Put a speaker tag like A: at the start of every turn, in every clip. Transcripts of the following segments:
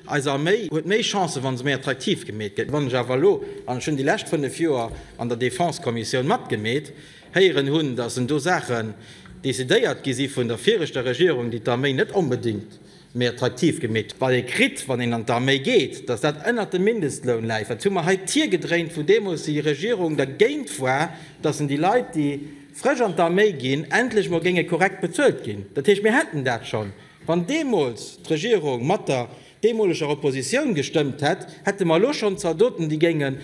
A: Eis Arméi huet méi Chancen, wa se méi attraktiv gemeet gëtt. Wann ech awer elo, an ech hunn déi lescht fënnef Joer an der Défense-Kommissioun matgemeet, héieren hunn, datt en do Saachen decidéiert gi si vun der viregter Regierung, déi d'Arméi net onbedéngt méi attraktiv gemeet hunn, wat ee kritt, wann een an d'Arméi geet, datt dat ënnert dem Mindestloun läit, wat hu mer hei d'Tier gedréint, wou deemools déi Regierung dergéint war, datt en déi Leit, déi frësch an d'Arméi ginn, endlech mol géinge korrekt bezuelt ginn. Dat heescht, mir hätten dat schonn. Wann deemools d'Regierung mat der deemoleger Oppositioun gestëmmt hätt, hätte mer elo schonn Zaldoten, déi géingen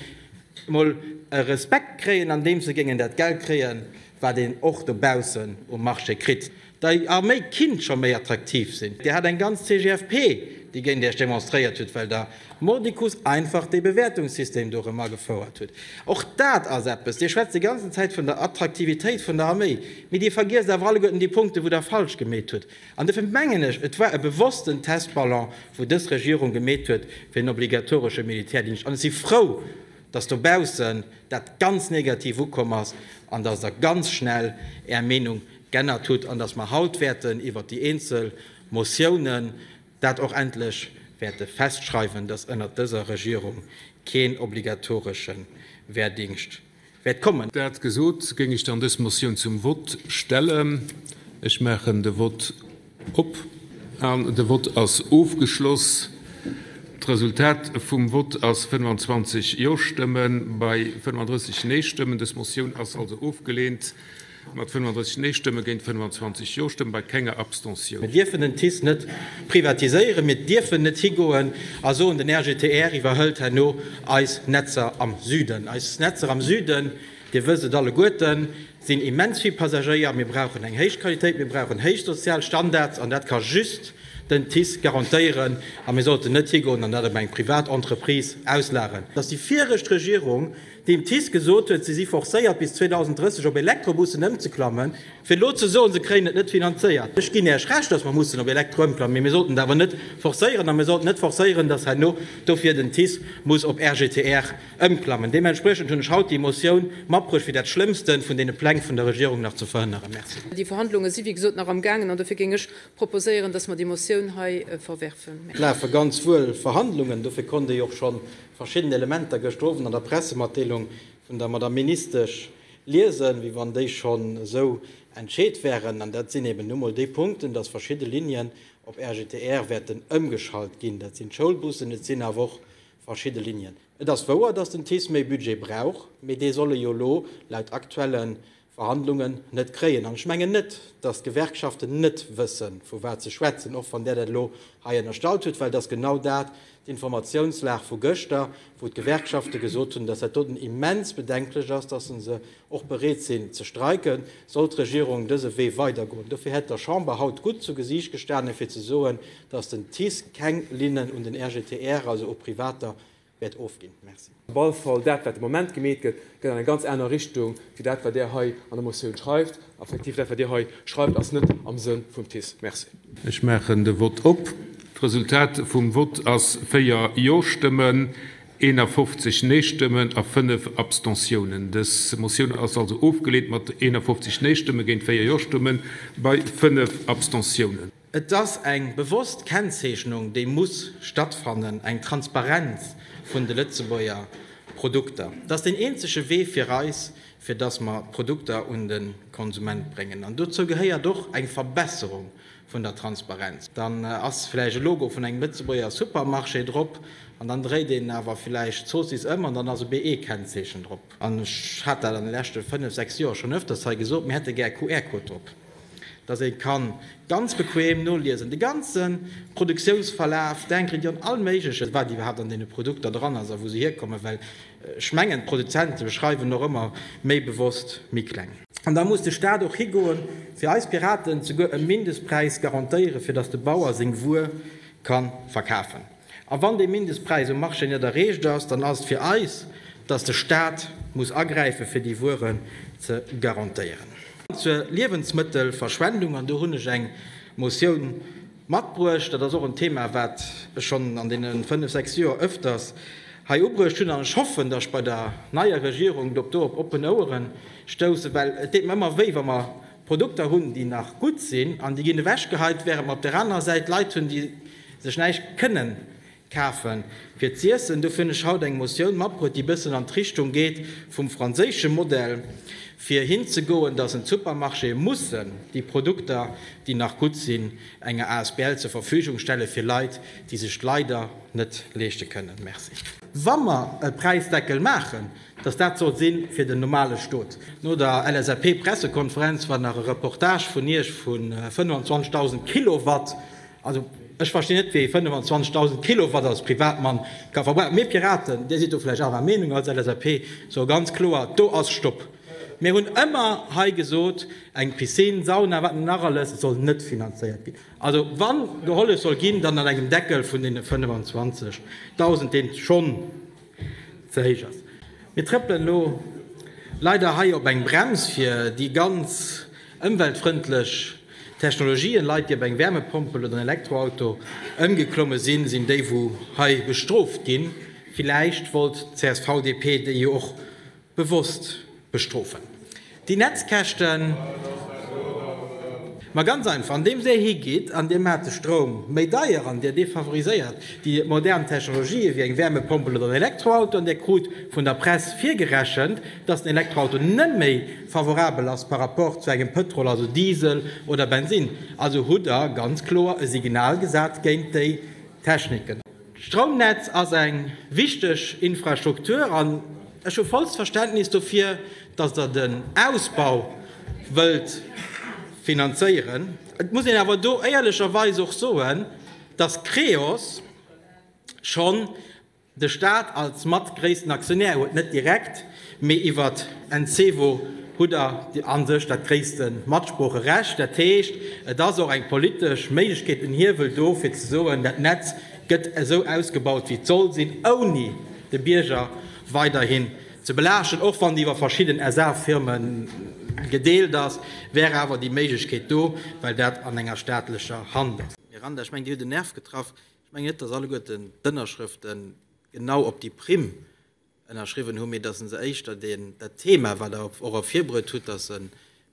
A: emol e Respekt kréien, andeems se géingen dat Geld kréien, wat een och dobaussen um Marché kritt. Déi Arméi kinnt scho méi attraktiv sinn. Dir hat eng ganz CGFP, déi géint Iech demonstréiert huet, well Der mordicus einfach dee Bewäertungssystem do erëm agefouert hutt. Och dat ass eppes. Dir schwätzt déi ganzen Zäit vun der Attraktivitéit vun der Arméi, mee Dir vergiesst awer alleguerten déi Punkte, wou Der falsch gemeet hutt. An dofir mengen ech, et war e bewossten Testballon, wou dës Regierung gemeet huet, fir en obligatoresche Militärdingscht. An ech si frou, dass dobaussen dat ganz negativ ukomm ass an dass Der ganz schnell Är Meenung g'ännert hutt an dass mer haut wäerten iwwert déi eenzel Motiounen dat och endlech wäerte festschreiwen, dass ënnert dëser Regierung keen obligatoresche Wehrdingscht wäert kommen. Dat gesot, géing
B: ech dann dës Motioun zum Vott stellen. Ech maachen de Vott op. An de Vott ass ofgeschloss. D'Resultat vum Vott ass 25 Jo-Stëmme bei 35 Nee-Stëmmen. Dës Motioun ass also ofgeleent. Mat 35 Nee-Stëmme géint 25 Jo-Stëmme bei kenger Abstentioun. Mir dierfen den TICE net
A: privatiséieren, mir dierfen net higoen a soen, den RGTR iwwerhëlt herno eis Netzer am Süden. Eis Netzer am Süden, Dir wësst et alleguerten, sinn immens vill Passagéier, mir brauchen eng héich Qualitéit, mir brauchen héich sozial Standards an dat ka just den TICE garantéieren a mir sollten net higoen an dat op eng privat Entreprise auslageren. Datt déi viregt Regierung deem d'TICE gesot huet, se si forcéiert bis 2030 op Elektrobussen ëmzeklammen. Fir elo ze soen, se kréien et net finanzéiert, ech ginn Iech Recht, datt mer mussen op Elektro ëmklammen, mee mir sollten et awer net forcéieren. A mir sollten net forcéieren, datt herno dofir den TICE muss op RGTR ëmklammen. Deementspriechend hunn ech haut déi Motioun matbruecht, fir dat Schlëmmste vun deene Pläng vun der Regierung nach ze verhënneren. Merci. Déi Verhandlunge si wéi
C: gesot nach amgaangen an dofir géing ech proposéieren, datt mer déi Motioun hei verwerfen. Et lafe ganz
A: wuel Verhandlungen, dofir konnt ee jo och schonn verschidden Elementer gëschter Owend an der Pressematdeelung vun der Madame Ministesch liesen, wéi wann déi schonn esou entscheet wäeren. An dat sinn eben nu mol déi Punkten, dass verschidde Linien op RGTR wäerten ëmgeschalt ginn. Dat sinn d'Schoulbussen, et sinn awer och verschidde Linien. Et ass wouer, dass den TICE méi Budget brauch, mee dee soll e jo elo laut aktuelle Verhandlungen net kréien. An ech mengen net, dass d'Gewerkschaften net wëssen, vu wat se schwätzen, och wann Der dat elo hei ënnerstallt hutt, well et ass genau dat, d'Informatiounslag vu gëschter, wou d'Gewerkschafte gesot hunn, dass dat doten immens bedenklech ass, dass se se och bereet sinn ze streiken, sollt d'Regierung dëse Wee weidergoen. Dofir hätt der Chamber haut gutt zu Gesiicht gestanen, fir ze soen, dass den TICE keng Linnen un den RGTR, also u privater wäert ofginn. Merci. Op alle Fall, dat wat de
D: Moment gemeet gëtt, gëtt an eng ganz aner Richtung wéi dat wat Där hei an der Motioun schreift. Effektiv, dat wat Dir hei schreift ass net am Sënn vum TICE. Merci. Ech maachen de
B: Vott op. D'Resultat vum Vott ass 4 Jo-Stëmmen, 51 Nee-Stëmmen a 5 Abstentiounen. Dës Motioun ass also ofgeleent mat 51 Nee-Stëmme géint 4 Jo-Stëmme bei 5 Abstentiounen. Et ass eng
A: bewosst Kennzeechnung, déi muss stattfannen, eng Transparenz vun de Lëtzebuerger Produkter. Dat ass deen eenzege Wee fir eis, fir datt mer d'Produkter un de Konsument bréngen. An dozou gehéiert och eng Verbesserung vun der Transparenz. Dann ass vläicht e Logo vun engem Lëtzebuerger Supermarché drop an dann dréit een awer vläicht d'Zoossiss ëm an dann ass e BE-Kennzeechen drop. An ech hat dat an de leschte fënnef, sechs Joer schonn öfters hei gesot, mir hätte gär QR-Code drop. dass ee ka ganz bequem noliesen, de ganze Produktiounsverlaf, d'Ingredient, all Méigleches, wat iwwerhaapt an deene Produkter dran ass a wou se hierkommen, well ech mengen, d'Produzente schreiwen och ëmmer méi bewosst méi kleng. An da muss de Stat och higoen, fir eis Piraten, souguer e Mindestpräis garantéieren, fir dass de Bauer seng Wuer ka verkafen. A wann dee Mindestpräis um Marché net erreecht ass, dann ass et fir eis, dass de Stat muss agräife fir déi Wueren ze garantéieren. Zur Liewensmëttelverschwendung, an do hunn ech eng Motioun matbruecht, dat ass och en Thema, wat ech schonn an deene fënnf, sechs Joer öfters hei ubruecht hunn, an ech hoffen, dass ech bei der neier Regierung dorop oppen Ouere stoussen, well et deet mer ëmmer wéi, wa mer Produkter hunn, déi nach gutt sinn an déi ginn ewechgeheit, während mer op där anerer Säit Leit hunn, déi sech näischt kënnen kafe fir z'iessen. Dofir hunn ech haut eng Motioun matbruet, déi e bëssen an d'Richtung geet vum franséische Modell, fir hinzegoen, dass en d'Supermarchéë mussen déi Produkter, déi nach gutt sinn, enger Asbl zur Verfügung stelle fir Leit, déi sech d'leider net leeschte kënnen. Merci. Wa mer e Präisdeckel maachen, Dass dat sollt si fir den normale Stot. No der LSAP-Pressekonferenz war nach e Reportage vun Iech vu 25.000 Kilowatt. Also, ech verstinn net, wéi ee 25.000 Kilowatt als Privatmann ka verbrauchen. Mir Piraten, Dir sidd do vläicht anerer Meenung als LSAP, soe ganz kloer, Do ass Stopp! Mir hunn ëmmer hei gesot, eng Piscine, Sauna, wat net nach alles, soll net finanzéiert ginn. Also, wa gehollef soll ginn, dann an engem Deckel vun deene 25.000, deen schonn ze héich ass. Mir trëppelen elo leider hei op eng Brems fir déi ganz ëmweltfrëndlech Technologien. Leit, déi op eng Wärmepompel oder en Elektroauto ëmgeklomme sinn, sinn déi wou hei bestrooft ginn. Villäicht wollt d'CSV-DP déi jo och Bewosst bestrofen déi Netzkäschten. Ma ganz einfach, andeems Dir higeet an Dir maacht de Stroum méi deier an Dir defavoriséiert déi modern Technologië wéi eng Wärmepompel oder en Elektroauto an Dir krut vun der Press virgerechent, dass den Elektroauto net méi favorabel ass par rapport zu engem Pëtrol, also Diesel oder Bensinn, also hutt Der ganz kloer e Signal gesat géint déi Techniken. D'Stroumnetz ass eng wichteg Infrastruktur an ech hu vollst Verständnis dofir, datt Der den Ausbau wëllt finanzéieren. Et muss een awer do éierlecherweis och soen, datt Creos schonn de Staat als mat gréissten Aktionär huet, net direkt, Mee iwwert Encevo hutt der a sech dat gréisste Matsproocherecht. Dat heescht, et ass och eng politesch Méiglechkeet, en Hiewel do, fir ze soen, dat Netz gëtt esou ausgebaut, wéi et soll sinn, ouni de Bierger weiderhin ze belaaschten. Och wann déi iwwer verschidden SA-Firme gedeelt ass, wär awer déi Méiglechkeet do, well dat an enger staatlecher Hand ass. Miranda, ech mengen Dir hutt en Nerv getraff. Ech mengen net, datt alleguerten d'Ënnerschrëfte genau op déi Primm ënnerschriwwen hunn, mee dass e se éischter deen, dat Thema, wat Der och ervirbruet hutt, dass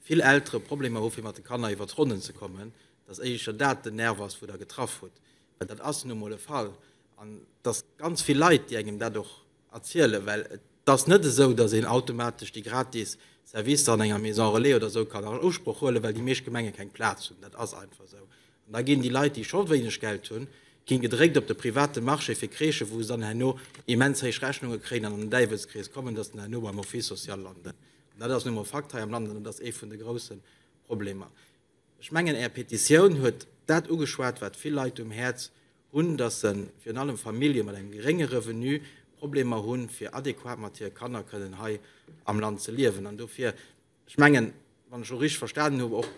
A: vill Eltere Problemer hu fir mat de Kanner iwwer d'Ronnen ze kommen, dass éischer dat den Nerv ass, wou Der getraff hutt, well dat ass nu emol e Fall. An et ass ganz vill Leit, déi engem dat och erzielen, well et ass net esou, dass een automatesch déi gratis Servicer an enger Maison relais oder esou kann an Usproch huelen, well déi meescht Gemenge keng Plaz hunn. Dat ass einfach esou. Da ginn déi Leit, déi scho wéineg Geld hunn, ginn gedréckt op de private Marché fir Crèchen, wou se dann herno immens héich Rechnunge kréien an an den Däiwelskrees kommen, dass se dann herno beim Office social landen. An dat ass nu emol e Fakt hei am Land an dat ass ee vun de grousse Problemer. Ech mengen Är Petitioun huet dat ugeschwat, wat vill Leit um Häerz hunn, dass se, virun allem Famillje mat engem gerénge Revenu, Problemer hunn, fir adequat mat hire Kanner kënnen hei am Land ze liewen. An dofir Ech mengen, wann ech och richteg verstanen hunn, och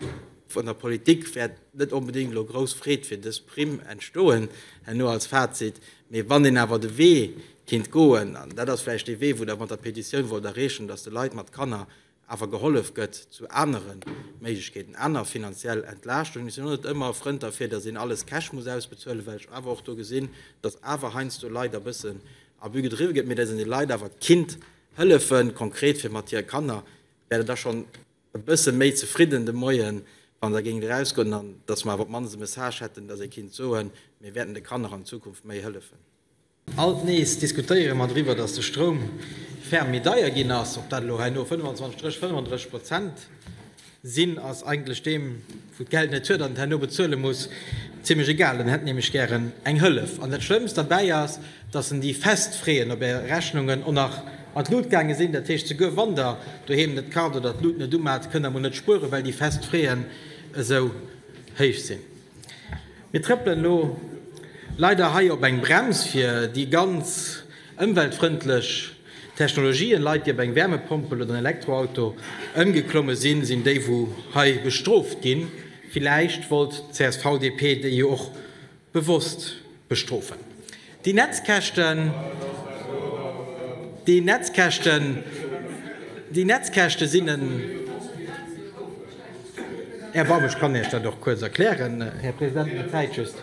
A: vun der Politik wäert net onbedéngt elo grouss Freed fir dës Primm entstoen herno als Fazit. Mee wann een awer de Wee kinnt goen, an dat ass vläicht dee Wee, wou Der mat der Petitioun wollt erreechen, datt de Leit mat Kanner awer gehollef gëtt zu anere Méiglechkeeten, aner finanziell Entlaaschtungen. Mir sinn och net ëmmer e Frënd derfir, datt een alles cash muss ausbezuelen, well ech awer och do gesinn, datt awer heiansdo Leit e bëssen Abus gedriwwe gëtt, mee datt een de Leit awer kinnt Hëllefen, konkret fir mat hire Kanner, wär der da schonn e bësse méi zefridden de Moien, wann der géingt erausgoen an dass mer awer op d'mannst e Message hätten, dass ee kinnt soen, mir wäerten de Kanner an Zukunft méi hëllefen. Alt nees diskutéiere mer driwwer, dass de Stroum ferm méi deier ginn ass, ob dat elo hei no 25 Stréch 35 Prozent. Sinn ass eigentlech deem, wou d'Geld net huet an et herno bezuele muss, zimlech egal. En hätt nämlech gären eng Hëllef. An dat Schlëmmst derbäi ass, dass en déi fest Freeën op är Rechnungen och nach an d'Lut gaange sinn. Dat heescht, souguer wann der doheem net kart oder d'Lut net umat, kënnt der mol net spueren, well déi fest Freeën esou héich sinn. Mir trëppelen elo leider hei op eng Brems fir déi ganz ëmweltfrëndlech Technologien. Leit déi op eng Wärmepompel oder en Elektroauto ëmgeklomme sinn, sinn déi wou hei bestrooft ginn. Villäicht wollt d'CSV-DP déi jo och bewosst Bestrofen. Déi Netzkäschten, déi Netzkäschten, déi Netzkäschte sinn en Erbarmen. Ech kann Iech dat och kuerz erklären, Här President, mä d'Zäit just.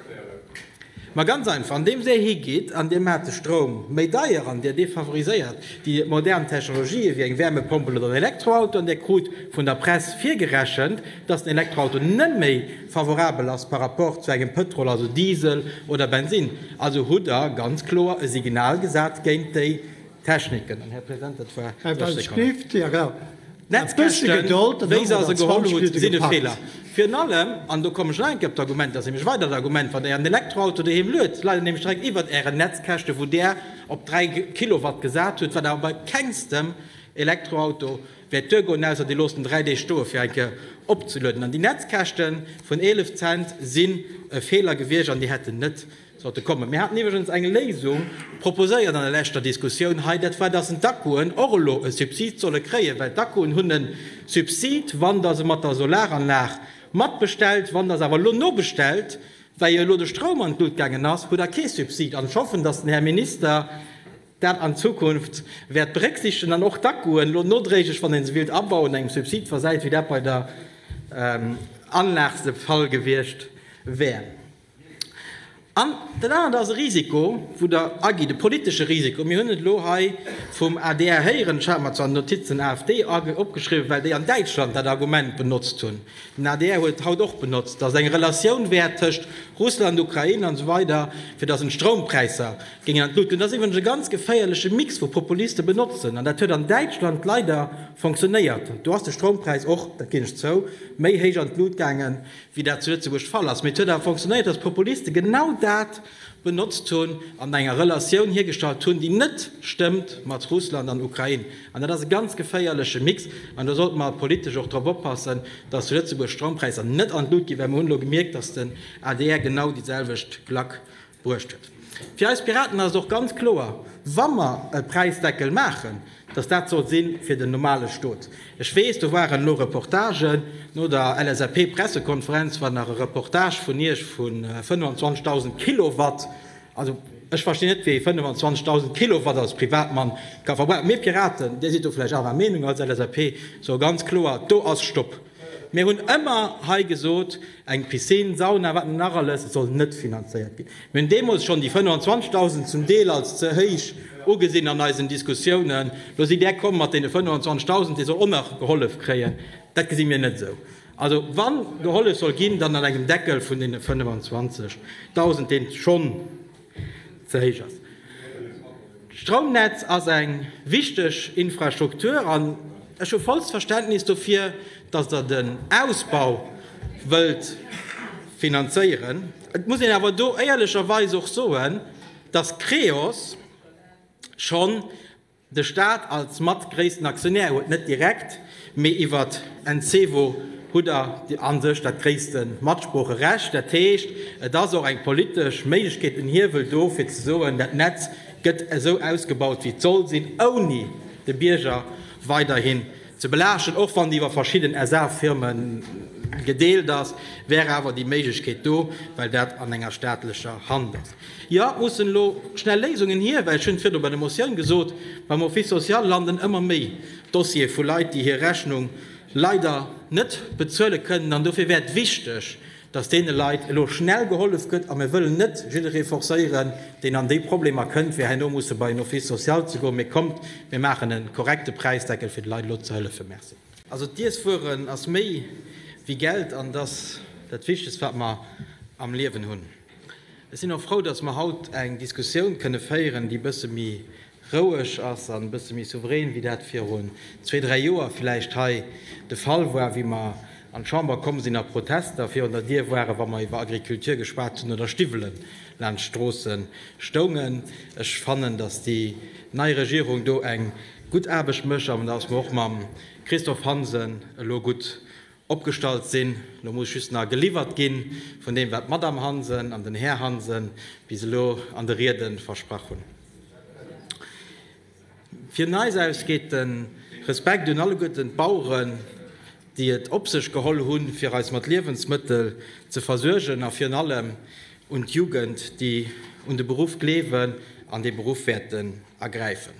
A: Mä ganz einfach, andeems Dir higeet an Dir maacht de Stroum méi deier an Dir defavoriséiert déi modern Technologië wéi eng Wärmepompel oder en Elektroauto an Dir krut vun der Press virgerechent, dass den Elektroauto net méi, Favorabel ass par rapport zu engem Pëtrol, also Diesel oder Bensinn. Also hutt Der ganz kloer e Signal gesat géint déi Techniken. An, Här President, dat war 30 Sekonnen. D'Netzkäschten, wéi se se geholl hutt, sinn e Feeler. Virun allem, an do kommen ech nach eng Kéier op d'Argument, dat ass nämlech e weidert Argument, wann Der Ären Elektroauto doheem luet, leit en nämlech direkt iwwert Ären Netzkäschte wou Der op 3 Kilowatt gesat hutt, wat awer bei kengstem Elektroauto Wäert d'Duer goen, ausser dir loosst en 3 Deeg stoe fir eng Kéier opzelueden. An déi Netzkäschte vun 11 Cent sinn e Feeler gewiescht an déi hätten net sollte kommen. Mir haten iwwregens eng Léisung proposéiert an der leschter Diskussioun hei, dat war, datt d'Akkuen och elo e Subsid solle kréien, well d'Akkuen hunn e Subsid, wann der se mat der Solaranlag matbestellt. Wann der se awer elo nobestellt, well jo elo de Stroum an d'Lut gaangen ass, hutt der kee Subsid. An ech hoffen, datt den Här Minister, dat an Zukunft wäert berécksiichtegen an och d'Akkuen elo nodréiglech, wann ee se willt abauen, engem Subsid versäit, wéi dat bei der Anlag de Fall gewiescht wär. An dat anert ass e Risiko, wou Der agitt, e politesche Risiko. Mir hunn et elo hei vum adr héieren, ech hat mer zwar d'Notiz den AfD opgeschriwwen, well déi an Däitschland dat Argument benotzt hunn, den adr huet et haut och benotzt, datt et eng Relatioun wär tëscht Russland, Ukrain an esou weider, fir datt een d'Stroumpräisser Géing an d'Luut. An dat ass iwwregens e ganz geféierleche Mix wou Populiste benotzen. An dat huet an Däitschland leider fonctionnéiert. Do ass de Stroumpräis och, dat ginn ech zou, méi héich an d'Luut gaangen, wéi dat zu Lëtzebuerg de Fall ass. Mee et huet awer fonctionnéiert, dass d'Populiste genau dat benotzt hunn an enger Relatioun hiergestallt hunn, déi net stëmmt mat Russland an Ukrain. An dat ass e ganz geféierleche Mix. An do sollte mer politesch och drop oppassen, dass zu Lëtzebuerg d'Stroumpräisser net an d'Luut ginn, well mer hunn elo gemierkt, dass den adr genau déi selwecht Klack Bruecht huet. Fir eis Piraten ass et och ganz kloer, wa mer e Präisdeckel maachen, datt dat soll si fir den normale Stot. Ech weess, do waren elo Reportagen no der LSAP-Pressekonferenz, war nach e Reportage vun Iech vu 25.000 Kilowatt. Also, ech verstinn net, wéi ee 25.000 Kilowatt als Privatmann ka verbrauchen. Mir Piraten, Dir sidd do vläicht anerer Meenung als LSAP, soe ganz kloer, do ass Stopp! Mir hunn ëmmer hei gesot, eng Piscine, Sauna, wat net nach alles, soll net finanzéiert ginn. Mir hunn deemools schonn déi 25.000 zum Deel als ze héich ugesinn an eisen Diskussiounen. Lo sidd Där komm mat deene 25.000, dee soll och nach gehollef kréien. Dat gesi mir net esou. Also wa gehollef soll ginn, dann an engem Deckel vun deene 25.000, dee schonn, ze héich ass. D'Stroumnetz ass eng wichteg Infrastruktur an ech hu vollst Verständnis dofir, datt Der den Ausbau wëllt finanzéieren. Et muss een awer do éierlecherweis och soen, datt Creos schonn De Staat als mat gréissten Aktionär huet net direkt, mee iwwert Encevo hutt der a sech dat gréisste Matsproocherecht. Dat heescht, et ass och eng politesch Méiglechkeet, en Hiewel do, fir ze soen, dat Netz gëtt esou ausgebaut, wéi et soll sinn, ouni de Bierger weiderhin ze belaaschten. Och wann déi iwwer verschidden SA-Firme gedeelt ass, wär awer déi Méiglechkeet do, well dat an enger staatlecher Hand ass. Jo, et mussen elo schnell Léisungen hier, well, ech hunn et virdu bei der Motioun gesot, beim Office social landen ëmmer méi Dossiere vu Leit, déi hir Rechnung leider net bezuele kënnen. An dofir wär et wichteg, dass deene Leit elo schnell gehollef gëtt. A mir wëllen net jidderee forcéieren, deen an déi Problemer kënnt, fir herno musse bei en Office social ze goen. Mee kommt, mir maachen e korrekte Präisdeckel, fir de Leit elo ze hëllefen. Merci. Also d'Iesswueren ass méi wéi Geld an et ass dat Wichtegst, wat mer am Liewen hunn. Ech sinn och frou, dass mer haut eng Diskussioun kënne féieren, déi e bësse méi roueg ass an e bësse méi souverän, wéi dat virun zwee, dräi Joer vläicht hei de Fall war, wéi mer an d'Chamber komm sinn a Protester virun der Dier waren, wa mer iwwer Agriculture geschwat hunn oder Stiwwelen laanscht d'Stroosse stoungen. Ech fannen, dass déi nei Regierung do eng gutt Aarbecht mécht an dass mer och mam Christophe Hansen elo gutt Opgestallt sinn. Lo muss just na geliwwert gi vun deem, wat d'Madame Hansen an den Här Hansen bis elo an de Riede versprach hunn. Vun eis aus geet de Respekt un alleguerten d'Baueren, déi et op sech geholl hunn, fir eis mat Liewensmëttel ze versuergen, a virun allem un d'Jugend, déi un de Beruff gleewen an dee Beruff wäerten ergräifen.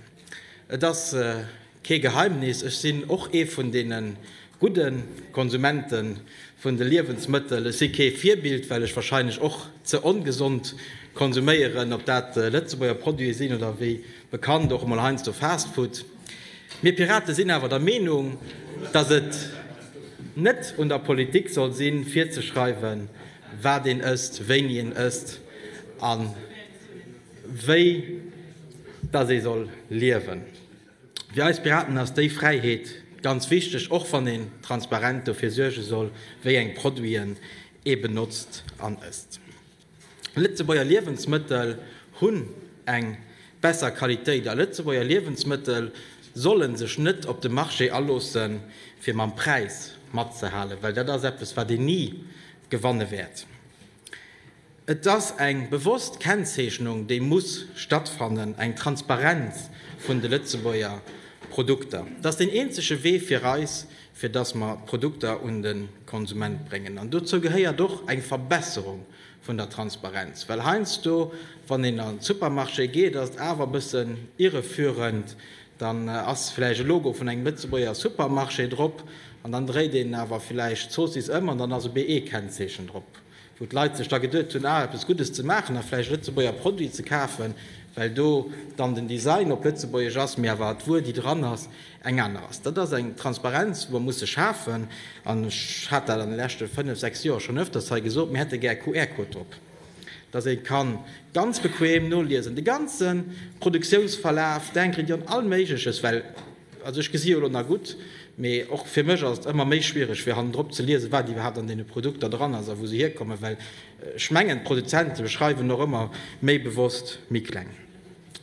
A: Et ass. Kee Geheimnis, ech sinn och ee vun deene gudde Konsumente vun de Liewensmëttel. Ech si kee Virbild, well ech wahrscheinlech och ze ongesond konsuméieren, ob dat Lëtzebuerger Produite sinn oder wéi bekannt och emol heiansdo Fastfood. Mir Pirate sinn awer der Meenung, datt et net un der Politik soll sinn, virzeschreiwen, wat een ësst, wéini een ësst a wéi datt ee soll liewen. Fir eis Piraten ass déi Fräiheet ganz wichteg, och wann een transparent dofir suerge soll, wéi eng Produiten ee benotzt an ësst. Lëtzebuerger Liewensmëttel hunn eng besser Qualitéit a Lëtzebuerger Liewensmëttel solle sech net op de Marché aloosse fir mam Präis matzehalen, well dat ass eppes wat een ni gewanne wäert. Et ass eng bewosst Kennzeechnung, déi muss stattfannen, eng Transparenz vun de Lëtzebuerger Produkter. Et ass deen eenzege Wee fir eis, fir dass mer d'Produkter un de Konsument bréngen. An dozou gehéiert och eng Verbesserung vun der Transparenz. Well heiansdo, wann een an de Supermarché geet, ass et awer e bëssen irreführend, Dann ass villäicht e Logo vun engem Lëtzebuerger Supermarché drop an dann dréit een awer villäicht d'Zoossiss ëm an dann ass e BE-Kennzeechen drop, wou d'Leit sech da geduet hunn, ah, eppes Guddes ze maachen a villäicht e Lëtzebuerger Produit ze kafen, well do dann den Design op Lëtzebuergesch ass, mee awer d'Wuer, déi dran ass, eng aner ass. Dat ass eng Transparenz, déi mer musse schafen an ech hat dat an de leschte fënnef, sechs Joer schonn öfters hei gesot, mir hätte gär QR-Code drop. dass ee ka ganz bequem noliesen, de ganze Produktiounsverlaf, denken dir un all Méigleches, well, also ech gesi jo elo nach gutt, mee och fir mech ass et ëmmer méi schwiereg, fir hannendrop ze liesen, wat iwwerhaapt an deene Produkter dran ass a wou se hierkommen, well ech mengen, d'Produzente schreiwen och ëmmer méi bewosst méi kleng.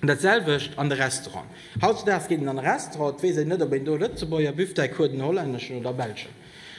A: Dat selwecht an de Restauranten. Hautzedaags geet een an e Restaurant, et weess een net, ob een do e Lëtzebuerger Büfftei kruet, en hollänneschen oder e belschen.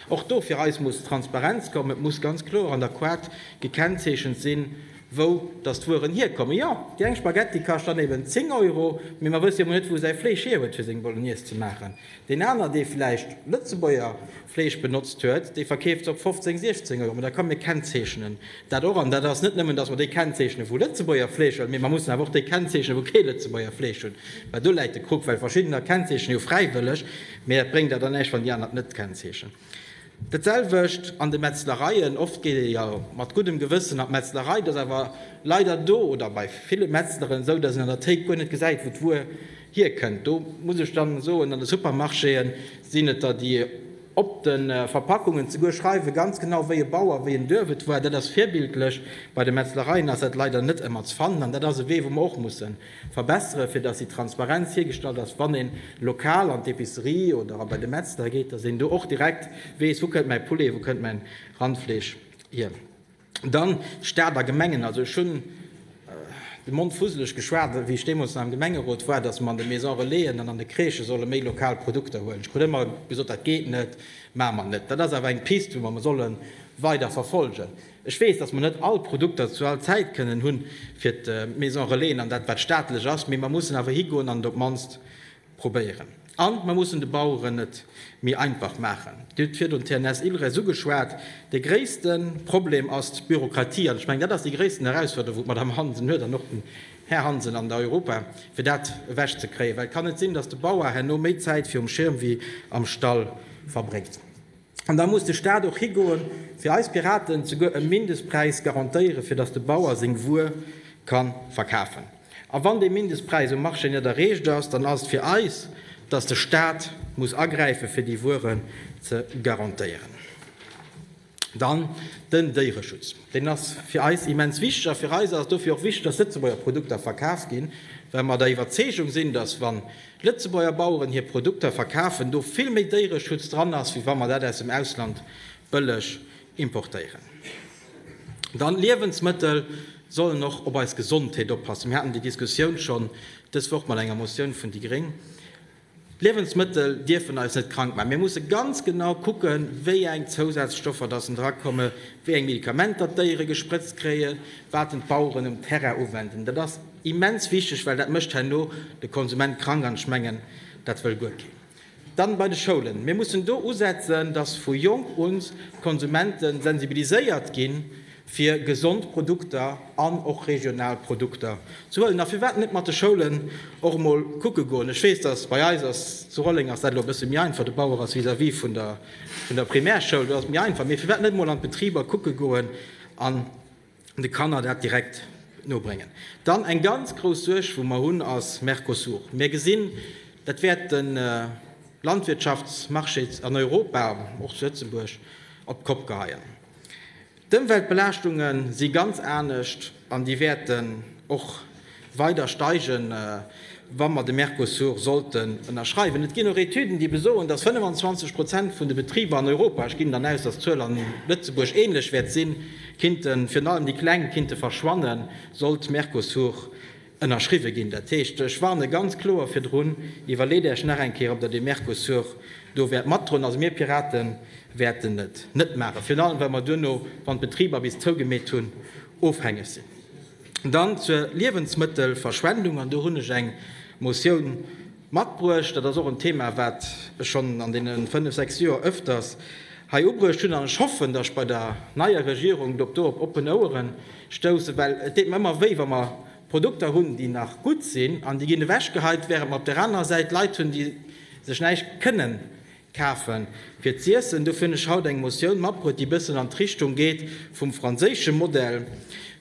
A: Och do fir eis muss Transparenz kommen. Et muss ganz kloer an der Koart gekennzeechent sinn, wou datt d'Wueren hierkommen. Jo, déi eng Spaghetti kascht dann eben 10 Euro, mee mer wësse jo emol net, wou säi Fleesch hierhuet, fir seng Bolognese ze maachen. Deen aner, dee vläicht Lëtzebuerger Fleesch benotzt huet, dee verkeeft se op 15, 16 Euro. Mä da kommen, mir kennzeechnen dat och. An dat ass net nëmmen, datt mer déi kennzeechnen, wou Lëtzebuerger Fleesch hunn, mee mer mussen awer och déi kennzeechnen, wou kee Lëtzebuerger Fleesch hunn. Well do läit de Krux, well verschiddener kennzeechnen jo fräiwëlleg, mee dat bréngt der dann näischt, wann déi aner et net kennzeechnen. Dat selwecht an de Metzlereien. Oft geet ee jo mat guddem Gewëssen an d'Metzlerei. Et ass awer leider do oder bei ville Metzleren esou, datt een an der Théik guer net gesäit, wou d'Wuer hierkënnt. Do muss ech da soen, an de Supermarchéë sinn et der, déi op de Verpackungen zeguer schreiwe ganz genau, wéi e Bauer, wéi en Duerf et war. Dat ass virbildlech. Bei de Metzlereien ass dat leider net ëmmer ze fannen. An dat ass e Wee, wou mer och mussen Verbessere fir dass déi Transparenz hiergestallt ass, wann een lokal an d'Epicerie oder a bei de Metzler geet, dass een do och direkt weess, wou kënnt mäi Poulet, wou kënnt mäin Randfleesch hier. Dann Staat a Gemengen, also ech hunn de Mond fusseleg geschwat wéi ech deemools nach am Gemengerot war, dass mer an de Maison Relaisen an an de Crèchë solle méi lokal Produkter huelen. Ech krut ëmmer gesot, dat geet net, maache mer net. Dat ass awer eng Piste wou mer solle weider verfolgen. Ech weess, dass mer net all Produkter zu all Zäit kënnen hu fir d'Maison Relaisen an dat wat staatlech ass, mee mer mussen awer higoen an et op d'mannst probéieren. An mer mussen de Baueren et méi einfach maachen. Dir hutt virdrun d'TNS Ilres ugeschwat. De gréisste Problem ass d'Bürokratie an ech mengen, dat ass déi gréissten Herausforderung, wou d'Madame Hansen huet an och den Här Hansen an der Europa, fir dat ewech ze kréien, well et kann net sinn, dass de Bauer herno méi Zäit virum Schirm wéi am Stall verbréngt. An da muss de Staat och higoe fir eis Piraten souguer e Mindestpräis garantéiere fir datt de Bauer seng Wuer ka verkafen. A wann dee Mindestpräis um Marché net erreecht ass, dann ass et fir eis, datt de Staat muss agräife fir déi Wueren ze garantéieren. Dann den Déiereschutz. Deen ass fir eis immens wichteg. A fir eis ass et dofir och wichteg, datt Lëtzebuerger Produkter verkaf ginn, well mer der Iwwerzeegung sinn, datt wann Lëtzebuerger Baueren hir Produkter verkafen, do vill méi Déiereschutz dran ass, wéi wa mer dat aus dem Ausland bëlleg importéieren. Dann, Liewensmëttel sollen och op eis Gesondheet oppassen. Mir haten déi Diskussioun schonn dës Woch mat enger Motioun vun déi Gréng. D'Liewensmëttel dierfen eis net krank maachen. Mir musse ganz genau kucken, wéi eng Zousazstoffer datt en dra komme, wéi eng Medikamenter d'Déiere gesprëtzt kréien, wat en d'Baueren um Terrain uwenden. Immens wichteg, well dat mécht herno de Konsument krank, an ech mengen, dat wëll guer keen. Dann bei de Schoulen. Mir mussen do usetzen, dass vu jonk un d'Konsumente sensibiliséiert ginn, fir gesond Produkter an och regional Produkter ze huelen. A firwat net mat de Schoulen och emol kucke goen? Ech weess, dass bei eis ass, zu Rolleng ass dat elo e bësse méi einfach, de Bauer ass vis-à-vis vun der Primärschoul, do ass et méi einfach, mee firwat net emol an d'Betriber kucke goen an de Kanner dat direkt nobréngen. Dann eng ganz grouss Suerg wou mer hunn ass Mercosur. Mir gesinn, dat wäert de Landwirtschaftsmarché an Europa, och zu Lëtzebuerg, op d'Kopp geheien. D'Ëmweltbelaaschtunge si ganz anescht an déi wäerten och Weider steigen, wa mer de Mercosur sollten ënnerschreiwen. Et ginn och Etüden, déi besoen, dass 25 Prozent vun de Betriber an Europa, ech ginn dann aus, dass d'Zuel an Lëtzebuerg ähnlech wäert sinn, kinnten, virun allem déi Kleng, kinnte verschwannen, sollt Mercosur ënnerschriwwe ginn. Dat heescht, ech warne ganz kloer virdrun, iwwerleet Äech nach eng Kéier, ob Der de Mercosur do wäert matdroen. Also mir Pirate wäerten et net maachen, virun allem, well mer duerno, wann d'Betriber bis zougemeet hunn, ofhängeg sinn. Dann zur Liewensmëttelverschwendung, an do hunn ech eng Motioun matbruecht. Dat ass och en Thema, wat ech schonn an deene fënnf, sechs Joer öfters hei ubruecht hunn, an ech hoffen, dass ech bei der neier Regierung do op oppen Ouere stoussen, well et deet mer ëmmer wéi, wa mer Produkter hunn, déi nach gutt sinn, an déi ginn ewechgeheit, während mer op där anerer Säit Leit hunn, déi sech näischt kënnen Kafen fir z'iessen. Dofir hunn ech haut eng Motioun matbruet, déi bëssen an d'Richtung geet vum franséische Modell,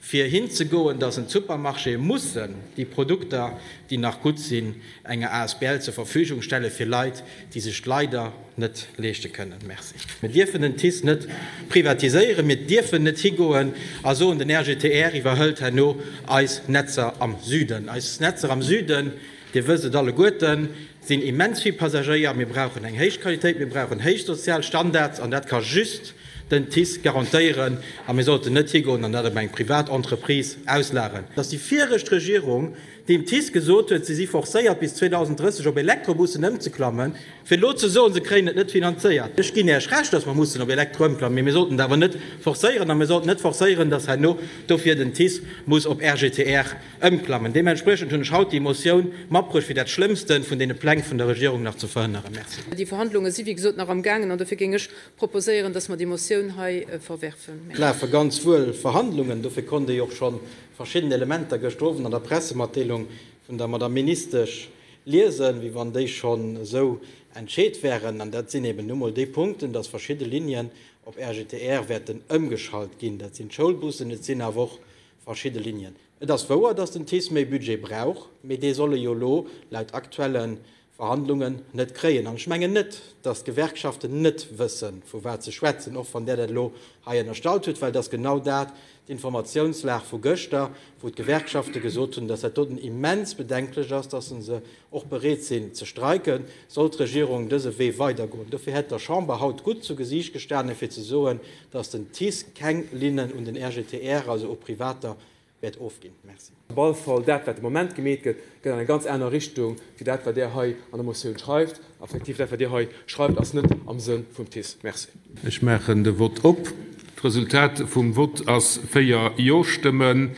A: fir hinzegoen, dass en d'Supermarchéë mussen déi Produkter, déi nach gutt sinn, enger Asbl zur Verfügung stelle fir Leit, déi sech d'leider net leeschte kënnen. Merci. Mir dierfen den TICE net privatiséieren. Mir dierfen net higoen a soen, den RGTR iwwerhëlt herno eis Netzer am Süden. Eis Netzer am Süden, Dir wësst et alleguerten, sinn immens vill Passagéier, mir brauchen eng héich Qualitéit, mir brauchen héich sozial Standards an dat ka just den TICE garantéieren a mir sollten net higoen an dat op eng privat Entreprise auslageren. Dass déi viregt Regierung dem TICE gesot huet, si si forcéiert bis 2030 op Elektrobussen ëmzeklammen, fir elo ze soen, se kréien et net finanzéiert, ech ginn Iech Recht, dass mer mussen op Elektro ëmklammen, mee mir sollten et awer net forcéieren a mir sollten net forcéieren, dass herno dofir den TICE muss op RGTR Ëmklammen. Deementspriechend hunn ech haut déi Motioun matbruecht, fir dat Schlëmmste vun deene Pläng vun der Regierung nach ze verhënneren. Merci. Déi Verhandlunge si wéi
C: gesot nach am gaangen an dofir géing ech proposéieren, dass mer déi Motioun hei verwerfen. Et lafe ganz
A: wuel Verhandlungen, dofir konnt Dir jo och scho verschidden Elementer gëschter Owend an der Pressematdeelung vun der Madamm Ministesch liesen, wéi wann déi schonn esou entscheet wären. An dat sinn eben nu mol déi Punkten, dass verschidde Linien op RGTR wäerten ëmgeschalt ginn. Dat sinn d'Schoulbussen, et sinn awer och Verschidde Linien. Et ass wouer, datt den TICE méi Budget brauch, mee dee soll e jo elo laut aktuelle Verhandlungen net kréien. An ech mengen net, datt d'Gewerkschaften net wësse vu wat se schwätzen, och wann Der dat elo hei ënnerstallt hutt, well et ass genau dat d'Informatiounslag vu gëschter, wou d'Gewerkschafte gesot hunn, datt dat doten immens bedenklech ass, datt se se och bereet sinn ze streiken, soll d'Regierung dëse Wee weidergoen. Dofir hätt der Chamber haut gutt zu Gesiicht gestanen, fir ze soen, datt den TICE keng Linnen un den RGTR, also u Privater, wäert ofginn. Merci. Op alle Fall, dat, wat de
D: Moment gemeet gëtt, geet an eng ganz aner Richtung wéi dat, wat Der hei an der Motioun schreift. A effektiv, dat, wat Dir hei schreift, ass net am Sënn vum TICE. Merci. Ech maachen de
B: Vott op. D'Resultat vum Vott ass 4 Jo-Stëmmen,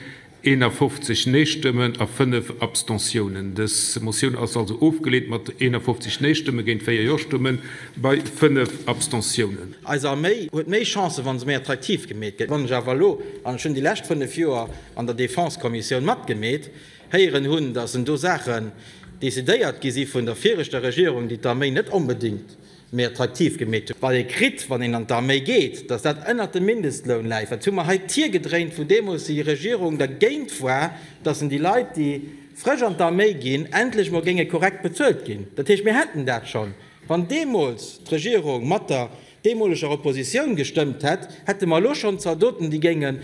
B: 51 Neestëmmen a 5 Abstentiounen. Dës Motioun ass also ofgeleent mat 51 Neestëmme géint 4 Jo-Stëmme bei 5 Abstentiounen. Eis Arméi huet
A: méi Chancen, wa se méi attraktiv gemeet gëtt. Wann ech awer elo, an ech hunn déi lescht 5 Joer an der Defense-Kommissioun matgemeet, héieren hunn, datt do Saachen decidéiert gi si vun der viregter Regierung, déi d'Arméi net onbedéngt méi attraktiv gemeet hunn, wat ee kritt, wann een an d'Arméi geet, datt dat ënnert dem Mindestloun läit, wat hu mer hei d'Tier gedréint, wou deemools déi Regierung dergéint war, datt en déi Leit, déi frësch an d'Arméi ginn, endlech emol géinge korrekt bezuelt ginn. Dat heescht, mir hätten dat schonn, wann deemools d'Regierung mat der deemoleger Oppositioun gestëmmt hätt, hätte mer elo schonn Zaldoten, déi géingen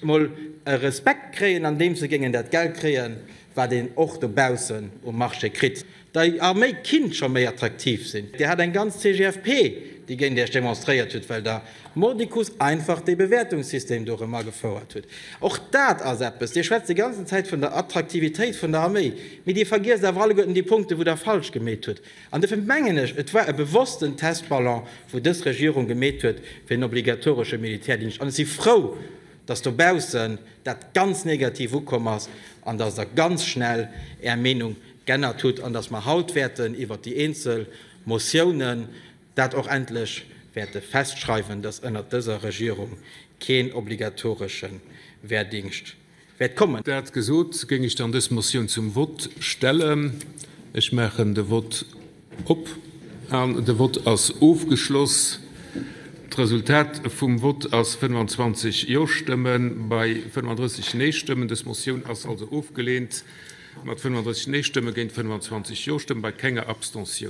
A: emol e Respekt kréien, andeems se géingen dat Geld kréien, wat een och dobaussen um Marché kritt. der Arméi kinnt scho méi attraktiv sinn. Dir hat eng ganz CGFP, déi géint Iech demonstréiert huet, well der mordicus einfach dee Bewäertungssystem do erëm agefouert hutt. Och dat ass eppes. Dir schwätzt déi ganzen Zäit vun der Attraktivitéit vun der Arméi, mee Dir vergiesst awer alleguerten déi Punkte, wou Der falsch gemeet hutt. An dofir mengen ech, et war e bewossten Testballon, wou dës Regierung gemeet huet, fir en obligatoresche Militärdingscht. An ech si frou, dass dobaussen dat ganz negativ ukomm ass an dass Der ganz schnell Är Meenung g'ännert hutt an dass mer haut wäerten iwwert déi eenzel Motiounen dat och endlech wäerte festschreiwen, dass ënnert dëser Regierung keen obligatoresche Wehrdingscht wäert kommen. Dat gesot, géing
B: ech dann dës Motioun zum Vott stellen. Ech maachen de Vott. Op an de Vott ass ofgeschloss. D'Resultat vum Vott ass 25 Jo-Stëmme bei 35 Nee-Stëmmen. Dës Motioun ass also ofgeleent, mat 35 Nee-Stëmme géint 25 Jo-Stëmme bei kenger Abstentioun.